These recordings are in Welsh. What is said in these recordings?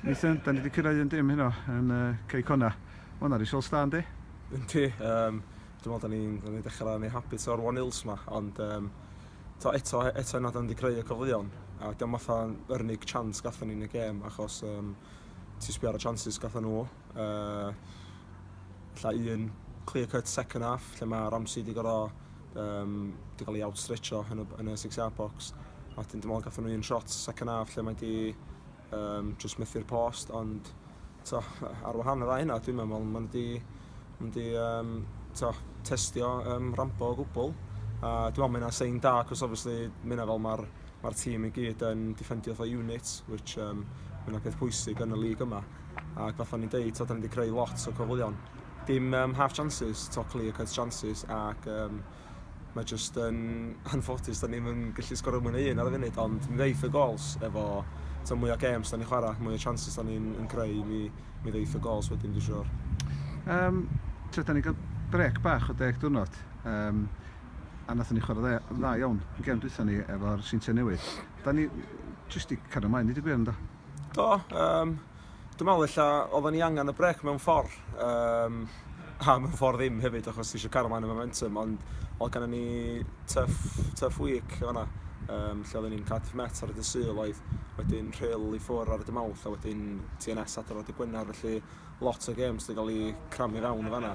Nathan, da ni wedi cyrraedd yn dim heno yn uh, Cei Cona. Mae hwnna risiol stan, di? Yndi, um, dwi'n meddwl da ni'n ni dechrau yn ei habit o'r One Hills yma, ond um, to, eto, eto yna da ni wedi creu y cyfleon, a dyma fatha yr unig chance gatho ni'n y gêm, achos um, ti sbio ar y chances gatho nhw, uh, lla un clear cut second half lle mae Ramsey wedi gorau um, wedi cael ei outstretcho yn y, yn y six yard box a wedyn dim ond gathen nhw un shot second half lle mae wedi um, just methu'r post ond to, ar wahan yr aina dwi'n meddwl mae wedi wedi um, to, testio um, rambo o gwbl a dwi'n meddwl mae yna sein da cos obviously mae yna fel mae'r mae tîm i gyd yn defendio fatha unit which um, mae yna peth pwysig yn y lig yma Ac fatha o'n i'n deud t'od 'dan ni 'di creu lot o cyfleon. Dim yym half chances t'o' clear cut chances ac yym mae jyst yn anffodus 'dan ni'm yn gallu sgorio mwy na un ar y funud ond mi ddeith y gols efo t'o' mwy o gêms 'dan ni'n chwara' mwy o chances 'dan ni'n yn creu mi mi ddeith y gols wedyn dwi siŵr. Yym t'od 'dan ni ga'l brêc bach o deg diwrnod yym a nathon ni chwara' dde- dda iawn y gêm dwytha ni efo'r Seintiau Newydd. 'Dan ni jyst 'di cario mlaen deud y gwir yndo? Do, um, dwi'n meddwl illa oedden ni angen y brec mewn ffordd, um, a mewn ffordd ddim hefyd, achos ti eisiau cario mlaen y momentum, ond oedd gen ni tuff, tuff week yna, um, lle oedden ni'n Cardiff Met ar y dy syl oedd, wedyn rhyl i ffwr ar y dy mawth, a wedyn TNS adrodd y Gwener, felly lot o games wedi cael ei cramu fewn o fanna.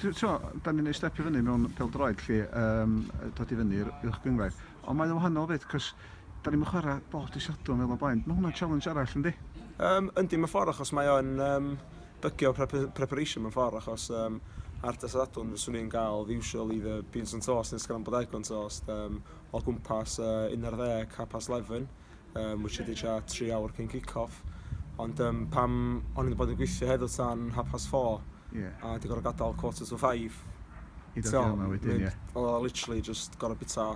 Ti'n gwybod, dan ni'n ei step i fyny mewn pêl-droed lle, yym, dod i fyny i'r uwch gynghrair. Ond mae o'n wahanol 'fyd, cos dan ni'm yn chwarae bob dydd Sadwrn fel o'r blaen. Mae hwnna'n challenge arall, yndi? Yym, yndi, mewn ffordd, achos mae o'n, yym, bygio preparation mewn ffordd, achos, yym, ar dydd Sadwrn fyswn i'n cael fy usual either beans and toast neu scrambled egg on toast, yym, o gwmpas, yy, unarddeg, half past 'leven. Yym wish i di tua tri awr cyn kick off ond yym pam o'n i wedi bod yn gweithio heddiw tan half past four Ie. a wedi gorfod gadael quarter to five I ddod i yma wedyn ie. Oedd o literally jyst gorfod bwyta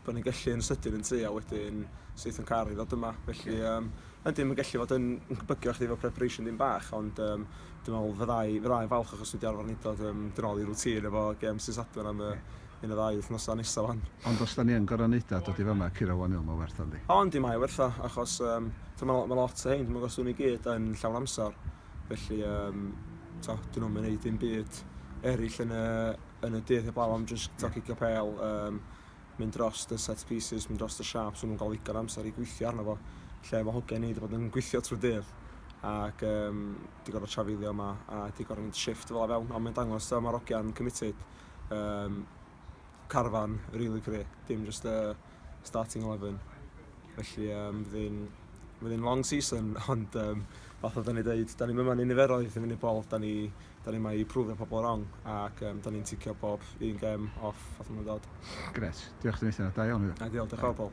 be o'n i'n gallu yn sydyn yn tŷ a wedyn syth yn car i ddod yma felly yym yndi mae'n gallu fod yn yn bygio chdi efo preparation dipyn bach ond yym dwi'n meddwl fydda i fydda i'n falch achos dwi 'di arfer neud o yym dwi nôl i routine efo gem Sul Sadwrn am y yn y ddau wythnosa nesa wan. Ond os da ni yn goro neud a dod i fama curo one il ma werth o yndi? O yndi mae werth o achos yym t'o ma ma lot o hein t'mo os wn i gyd yn llawn amsar felly yym t'o dyn nhw'm yn neud dim byd erill yn y yn y dydd heblaw am jyst t'o cicio pêl yym mynd dros y set pieces mynd dros y sharps ma nhw'n ga'l ddigon o amsar i gweithio arno fo lle ma hogia ni 'di bod yn gweithio trw'r dydd ac yym 'di gorfod trafeilio 'ma a 'di gorfod mynd shift fela fewn ond mae'n dangos t'o ma'r ogia'n committed Yym carfan rili fi, dim jyst y starting eleven. Felly yym bydd hi'n bydd hi'n long season ond yym fatha 'dan ni deud 'dan ni'm yma yn niferoedd i fyny bol 'dan ni 'dan ni 'ma i prwfio pobl rong ac yym 'dan ni'n ticio bob un gêm off fatha ma'n dod. Grêt. Diolch Nathan. Da iawn. Ideal. Diolch yn fawr Paul.